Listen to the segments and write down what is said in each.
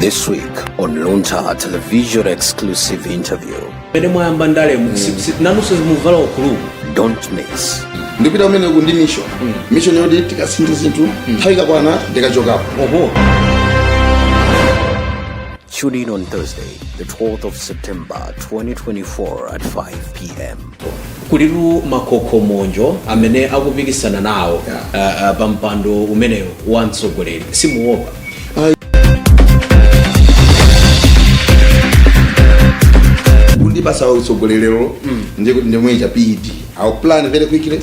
This week on Luntha Television exclusive interview. pene mwayamba ndalemu nanunso muvala ukulu umu Don't miss. ndipita kumeneko ndi mission mission yoti tikasinthe zinthu nthawi ikakwana ndikachokapo oho Tune in on Thursday, the 12th of September 2024 at 5 p.m. Kulitu makokomonjo amene akupikisana nawo Yeah. ah, ah, pa mpando umenewu wa utsogoleri simuopa kundipasa utsogoleriwo ndimwecha PED I'll plan very quickly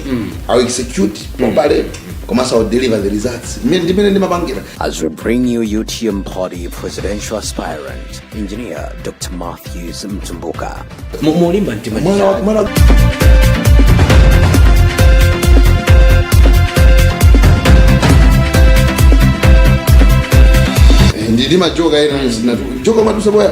I'll execute properly komanso I'll deliver the results Mmene- ndimene ndimapangira As we bring you UTM Party presidential aspirant, engineer Dr. Matthews Mtumbuka. Mu- mulimba mtima ndi Mwana wa- chani? mwana wa- Eh, ndili majoka ena zina joka zimadutsa boya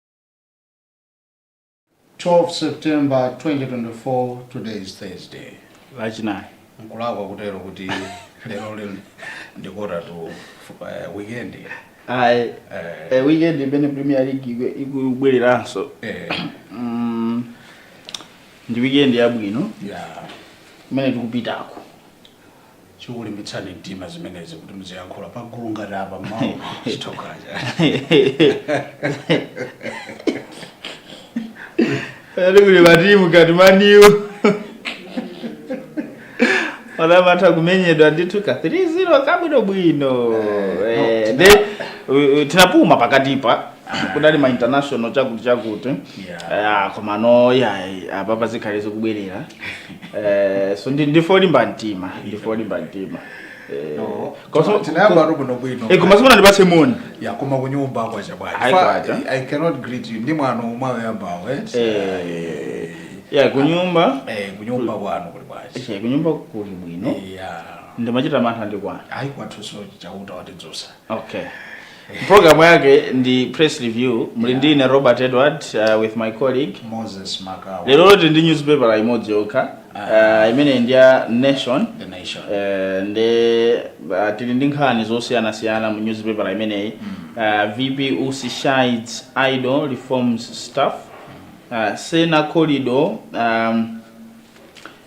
12 September 2024, today is Thursday. lachinayi Nkulakwa kutero kuti lero lino ndi quarter to eh, weekend. ayi Eh, eh, weekend imene premier league iku- ikubwereranso eh, Mm, ndi weekend yabwino yeah. imene tikupitako chikulimbitsani mtima zimenezi kuti muziyankhula pagulu ngati apa mawu chitha kaja Ati kuli matimu ngati Man U amatha kumenyedwa ndithu ka 3-0 kabwinobwino Eh, nde u- u- tinapuma pakatipa kudali ma international chakuti chakuti Yeah. Ah, komano ayi apapa zikhale zikubwerera Eh, so ndi ndife olimba mtima ndife olimba mtima Eh, No. koso- Tinayamba ko- tu bwino bwino. eh, koma simunandipatse moni Ya koma kunyumba kwacha bwanji. Ayi, Fa- kwacha. I cannot greet you. Ndi mwano mwayambawo, eh? Eh, ya kunyumba Eh, kunyumba kwanu kuli bwanji. eh, kunyumba kuli bwino Ya. ndimachita mantha ndi kwanu Ayi kwathuso chauta watidzosa. okay programu yake ndi press review muli ndi ine robert edward uh, with my colleague moses makawa lero tili ndi newspaper imodzi yokha uh, imene ndi ya nation the nation Eh, ndi uh, tili ndi nkhani zosiyanasiyana mu newspaper imeneyi uh, vp usi chides idle reforms staff uh, sena corridor um,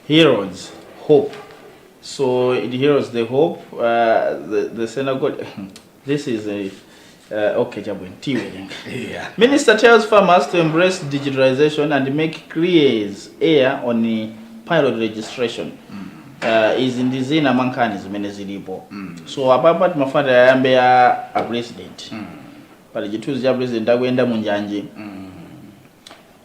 heroes hope So it heals the hope, uh, the, the synagogue. this is a. Uh, okay, Jabwin, tiwering. Yeah. Minister tells farmers to embrace digitalization and MEC clears air on the pilot registration. Uh, izi ndi zina mwa nkhani zimene zilipo so apapa timafuna tiyambe ya a president pali chithunzi cha president akuyenda munjanji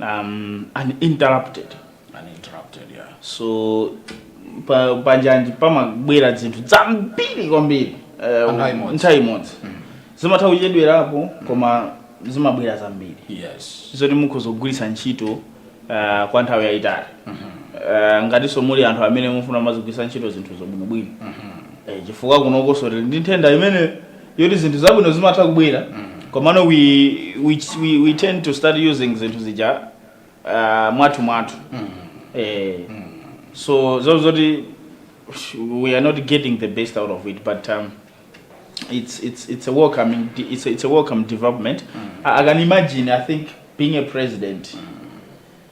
um, uninterrupted uninterrupted yeah so pa panjanji pamabwera zinthu zambiri kwambiri eh, Pa nthawi imodzi. nthawi imodzi zimatha kuchedwerapo koma zimabwera zambiri yes zoti mukhoza kugwiritsa ntchito uh, kwa nthawi yayitali uh, ngatinso muli anthu amene mukufuna muzigwiritsa ntchito zinthu zobwinobwino Eh, chifukwa kunokonso tili ndi nthenda imene yoti zinthu zabwino zimatha kubwera komano we, we, we, we tend to start using zinthu zija uh, mwathu mwathu eh, so zoti zoti we are not getting the best out of it but um, it's, it's, it's, a welcome, it's, a, it's a welcome development I, i can imagine i think being a president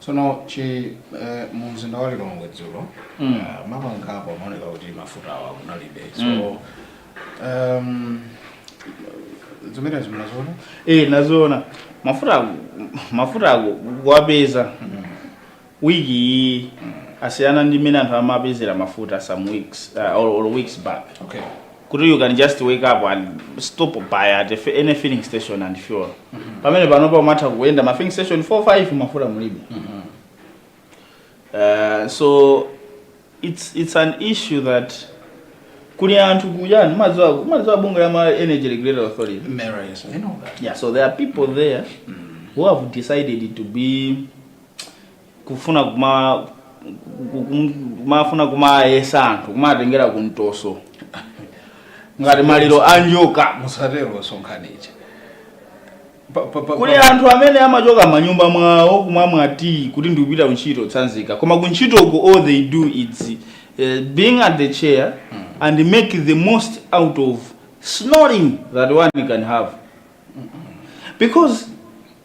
So nu eh, mu mzinda wa Lilongwe dzulo Mm. ah, mapampu amaoneka kuti mafuta awa kunalibe so Mm. um, zimene ndinaziona Eh, ndinaziona mafuta ake mafuta ake kuwapeza wiki iyi asiyana ndi mmene anthu amapezera mafuta some weeks uh, or, or weeks back okay kuti you can just wake up and stop by at a fi- any filling station and fuel pamene panopa umatha kuyenda ma filling station 4 5 mafuta mulibe uh, so it's, it's an issue that kuli anthu kuyani madziwa madziwa bunga ya ma energy regulatory authority Mera, yes, I know that. yeah so there are people there who have decided to be kufuna kuma kum- kumafuna kumayesa anthu kumatengera kumtoso ngati maliro a njoka musatero sonkhanija Pa- pa- pa- kuli pa- anthu amene amachoka manyumba mwawo kumamwa tea kuti ndikupita kuntchito tsanzika koma kuntchitoko all they do is uh, being at the chair and make the most out of snoring that one can have because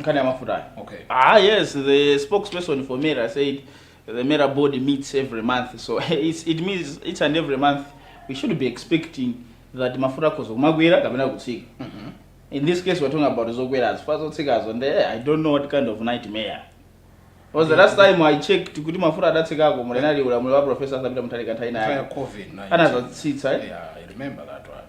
nkhani ya mafutayo Okay. ah yes the spokesperson for mera said the mera board meets every month so it's, it means each and every month we should be expecting that mafuta akhoza kumakwera kapena kutsika in this case we're talking about zokwerazo chifukwa zotsikazo nde i don't know what kind of nightmare because the last time i checked kuti mafuta adatsikako munali ulamuliro wa professor arthur peter mutharika nthawi Nthawi ya nawo COVID-19. anadzatsitsa eh? Yeah, I remember that one.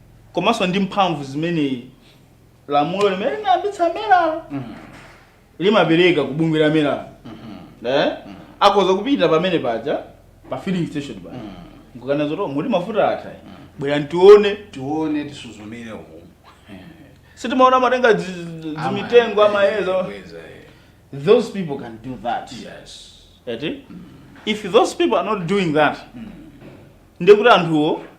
komanso ndi mphamvu zimene lamulo limene linayambitsa mera limapereka ku bungwe la meralo eh? akhoza kupita pamene paja pa filling station pakukana zoti muli mafuta atha bwera tione tione tisuzumire umu sitimaona amatenga zi- zi- zimitengo amayeza Kweza, eh. those people can do that yes eti if those people are not doing that ndekuti anthuwo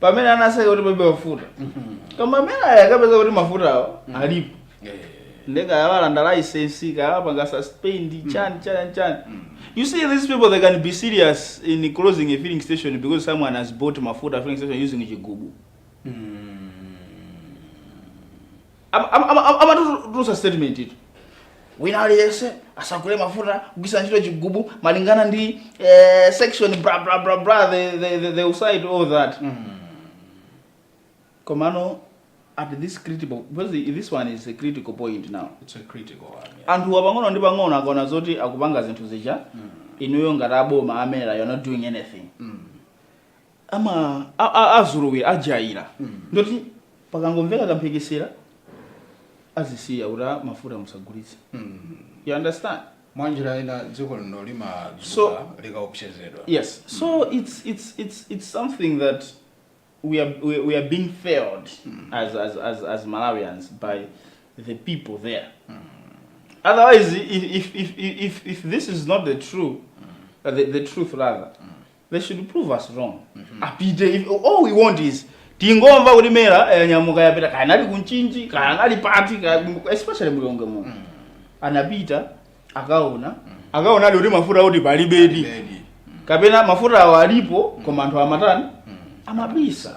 pamene anatseka kuti palibe mafuta koma a MERA akapeza kuti mafutawo alipo nde kaya awalanda laisensi kaya awapanga suspend chani chani chani you see these people they can be serious in closing a filling station because someone has bought mafuta filling station using chigubu amatutulusa statement yoti wina aliyense asagule mafuta kugwiritsa ntchito chigubu malingana ndi eh, section blah blah blah blah the, the, the, they will cite all that mm. komano at this critical because this one is a critical point now it's a critical one yeah. anthu apang'ono ndi pang'ono akaona zoti akupanga zinthu zija mm. inuyo ngati aboma a MERA you're not doing anything mm. ama a- a- azolowera ajaira ndoti pakangomveka kamphekesera azisiya kuti "Ah, mafuta musagulitse you understand mwa njira ina dziko lino So- limadzuka likaopsezedwa yes so it's it's it's it's something that we are we, we are being failed as, as as as malawians by the people there otherwise if if if if, if this is not the true uh, the, the truth rather they should prove us wrong apite if, all we want is tingomva kuti MERA yanyamuka yapita kaya anali ku Mchinji kaya anali pati kaya especially m'Lilongwe mu anapita akaona akaona ali kuti mafuta kuti palibedi Palibedi. kapena mafuta awo alipo koma anthu amatani amabisa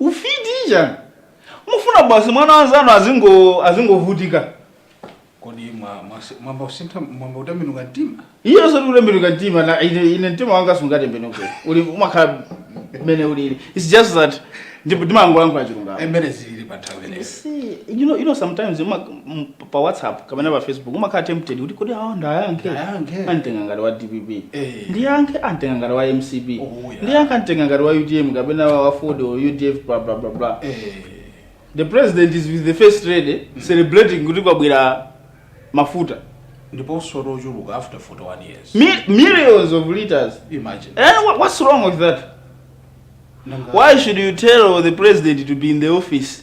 Ufiti chani? Mufuna basi mwana wa mnzanu azingo azingovutika? Kodi mwa mwasi- mwayamba kusintha mwayamba kutembenuka mtima? Iye osati kutembenuka mtima na ine, ine mtima wanga sungatembenuke. Uwu umakhala mmene ulili. It's just that ndipo ndimangolankhula chilungamo. M'mene zilili pa nthawi imeneyo. See, you know, you know sometimes uma- m- pa whatsapp kapena pa facebook umakhala tempted kuti kodi awa ndiwayankhe Ndiwayankhe. anditenga ngati wa dpp Eh. ndiyankhe anditenga ngati wa mcp Oh, yeah. ndiyankhe anditenga ngati wa utm kapena wa aford or udf bla bla bla bla Eh, the president is with the first lady celebrating kuti kwabwera mafuta ndiponso tochuluka after 41 years Mi- millions of liters imagine and wha- what's wrong with that Nanga- why should you tell the president to be in the office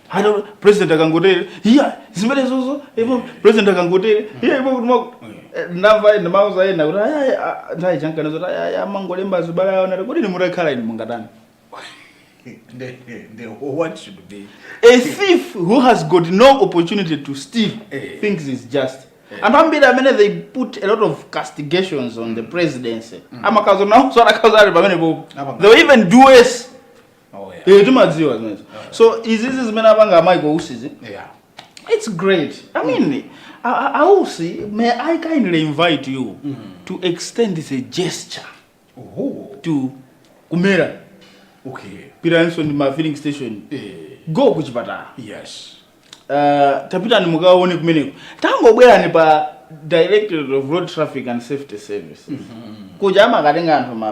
Ati president akangotere, iya, zimenezo zo, ipo president akangotere, iya ipo kuti mwa ndava enda mauza enda kuti aya ah, ndai chankana zoti aya aya amangolemba zibaluwa ndiye uwona kuti kodi mutakhala inu mungatani. Nde- nde, what should be A thief who has got no opportunity to steal Eh. thinks he's just. Anthu ambiri amene they put a lot of castigations on the presidency. Amakazo nawo sara kazo ali pamene popo. Apa- They will even do worse. Oh, yeah. Eh, timadziwa zimenezo so izizi zimene apanga amayi kwa usizi Yeah. It's great. I mean, I, I, I will see. May I kindly invite you to extend this a gesture Ooh. to Kumera, Okay. Piranson, my filling station. Eh, Go kuchipatala. yes. Uh, tapitani mukaone kumeneko. Tangobwerani pa Directorate of Road Traffic and Safety Service. Kuja amakatenga anthu ma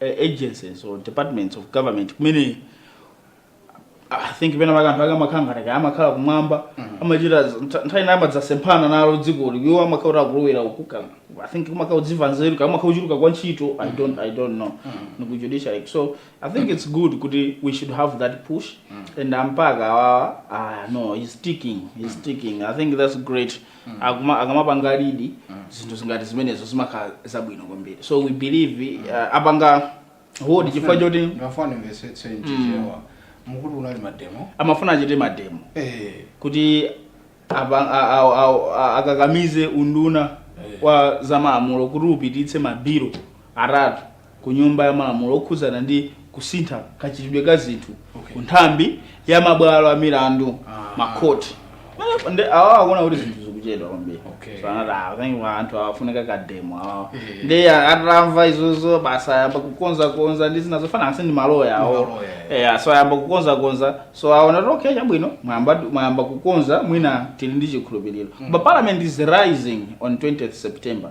agencies or departments of government kumene i think pena pakanthu ake amakhala ngati kaya amakhala kumwamba amachita z- ntha- nthawi zina amadzasemphana nalo dzikoli iwo amakhala kuti akulowera uku ka- i think kumakhala kudziva nzeru kaya amakhala kuchuluka kwa ntchito i don't i don't know ndiku judiciary so i think it's good kuti we should have that push and mpaka awawa ah no he's sticking he's sticking i think that's great akuma akamapanga lead zinthu zingati zimenezo zimakhala zabwino kwambiri so we believe uh, apanga hold chifukwa choti ndimafuna ndimvetsetse nchichewa mukuti kunali mademo amafuna achite mademo eh kuti apa- a- a- a- a- akakamize unduna wa zamalamulo kuti upititse mabilu atatu ku Nyumba ya Malamulo okhudzana ndi kusintha kachitidwe ka zinthu okay. ku nthambi ya mabwalo a milandu ah. makhoti awa akuona kuti zinthu zikuchedwa kwambiri okay. so anati akanyiwa ah, anthu afunika kademo awa eh. yeah. nde atamva izozo basa ayamba kukonzakonza ndi zina zofanana ndi maloya awo yeah. so ayamba kukonzakonza so aona kuti okay chabwino mwayamba kukonza mwina tili ndi chikhulupiriro mm. but parliament is rising on 20th september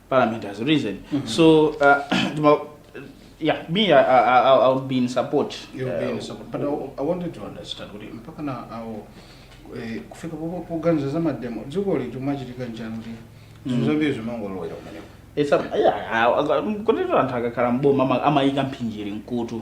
parliament has risen so uh, ndima- yeah me I, I, I, i'll be in support You'll be in uh, support. But I, I wanted to understand kuti mpaka na awo eh, kufika popo- poganiza za mademo dziko lathu chimachitika nchani kuti zinthu zambiri zimangolowera kumeneko It's a- yeah, I- I- kuti anthu akakhala mboma ama- amayika mphinjiri mkutu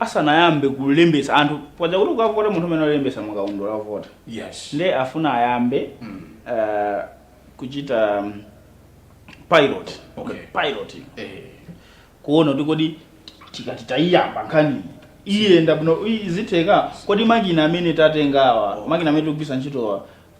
asanayambe kulembetsa anthu paja kuti ukavota munthu amene alembetsa mukaundula wovota yes nde afuna ayambe Mm. eh, kuchita um, pilot Okay. pilot eh kuona kuti kodi tikati tayiyamba nkhaniyi iyenda bwino izi zitheka kodi makina amene tatengawa Oh. makina amene tikugwiritsa ntchitowa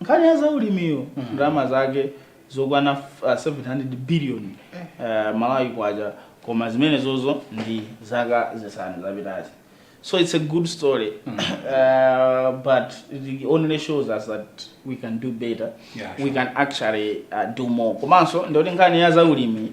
Nkhani ya zaulimiyo ndalama zake zokwana f- ah, 700 billion eh, malawi kwacha koma zimenezozo ndi zaka zisanu zapitazi so it's a good story uh, but it only shows us that we can do better Yeah, we can actually uh, do more komanso ndikuti nkhani ya zaulimi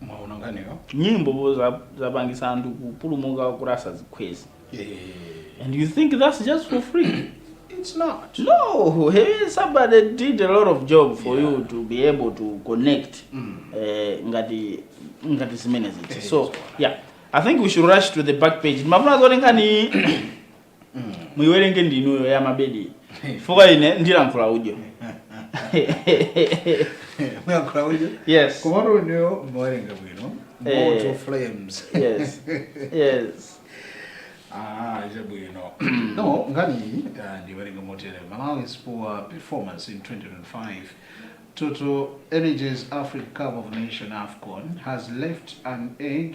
mwaona nkhaniyo nyimbo za- zapangisa anthu kupulumuka kuti asazikhweze Eh, and you think that's just for free it's not no hey, somebody did a lot of job for Yeah. you to be able to connect Mm. eh, ngati ngati zimenezi Eh, so yeah i think we should rush to the back page ndimafuna zoti nkhani mm. muiwerenge ndinuyo ya mabedi chifukwa ine ndiyankhula udyo muyankhula udyo yes komatu inuyo mmawerenga bwino eh. moto flames yes yes Ah, chabwino mm. no ngani uh, ndiwerenge motere malawi's poor performance in 2025 TotalEnergies Africa Cup of Nation AFCON has left an egg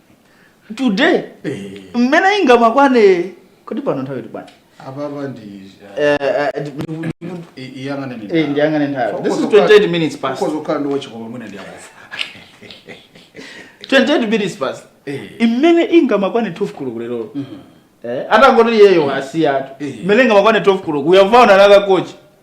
today eh. mmene izimakwana kodi pano nthawi ili bwanji apapa ndi eh, eh, iyang'ane nthawi ndiyang'ane nthawi this is 28 minutes past kozo kukhala ndi wachikopa mwina ndi akufa 28 minutes past mmene izimakwana 12 koloko lero mhm. eh atangoti yeyo asiyatu mmene izimakwana 12 koloko we have found another coach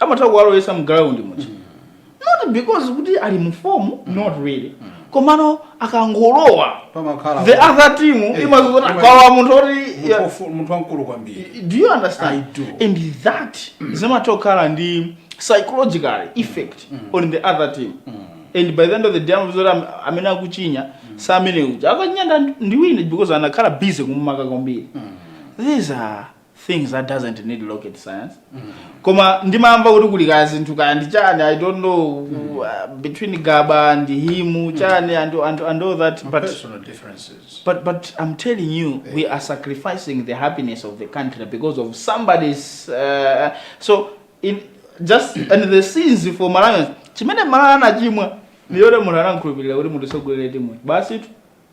amatha kuwalowesa mu ground much not because kuti ali mu form not really komano akangolowa pamakhala the other team Eh, imadziona ima- kwawa munthu oti munthu wofu- munthu wamkulu kwambiri do you understand I do. and that zimatha kukhala ndi psychological effect on the other team and by the end of the day amazoti am- amene akuchinya si amene uja akachinya nda- ndi wina because anakhala busy kumumaka kwambiri these are things that doesn't need rocket science koma ndimangomva kuti kuli kaya zinthu kaya ndi chani i don't know uh, between gaba and him chani and, and, and all that but Personal differences. But but I'm telling you, we are sacrificing the happiness of the country because of somebody's. Uh, so in just and the sins for Malawians. Chimene Malawi anachimwa ndiye munthu anamkhulupirira kuti munthu atsogolere timu basi tu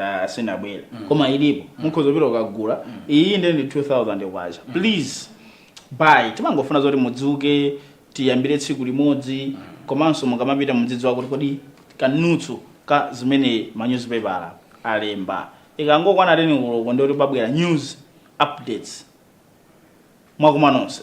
Ah, sinabwere koma ilipo mukhoza kupita mukagula iyi ndi ndi 2000 kwacha please buy timangofuna zoti mudzuke tiyambire tsiku limodzi komanso mukamapita mudzidziwa kuti kodi ka news ka zimene ma newspaper alemba ikangokwana teni kuloko ndi kuti pabwera news updates mwa kumaneko konse